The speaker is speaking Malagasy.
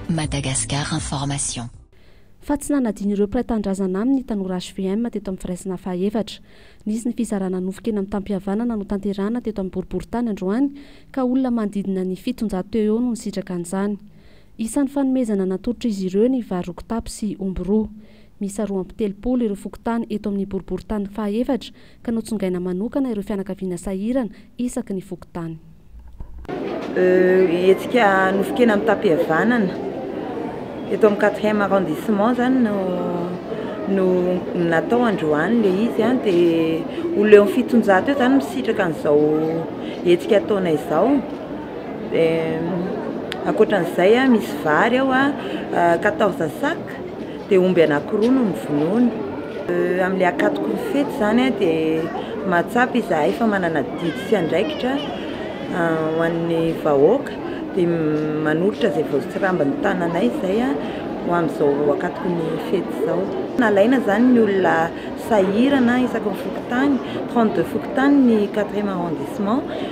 Madagascar Information. Fa tsy nanadino ireo mpiray tanindrazana aminy ny tanora hvm teto amin'ny firaisana fahaefatra. Nisy ny fizarana nofy kena mitam-pihavanana notanterahana teto amin'ny boriborintany androany ka olona manodidina ny fitonjato teo eo no nisitraka an'izany. Isan'ny fanomezana natolotr'izy ireo ny vary roa kitapo sy omby roa. Miisa roa amby telopolo ireo fokontany eto amin'ny boriborintany fahaefatra ka notsongaina manokana ireo fianakaviana sahirana isaky ny fokontany. Hetsika nofon-kena mitam-pihavanana eto amin'ny quatrième arrondissement izany no no natao androany ilay izy an, dia olona eo amin'ny fitonjato eo izany misitraka an'izao hetsika ataonay izao. Ankoatran'izay a, misy vary ao a, quatorze sac, dia omby anankiroa no novonoina. Amin'ilay akatoko ny fety izany a dia mahatsapa izahay fa manana didy sy andraikitra ho an'ny vahoaka dia manolotra izay voatsirambin'ny tananay izay a ho amin'izao akatoko ny fety izao. Nalaina izany ny olona sahirana isaky ny fokontany, trente deux fokontany ny quatrième arrondissement.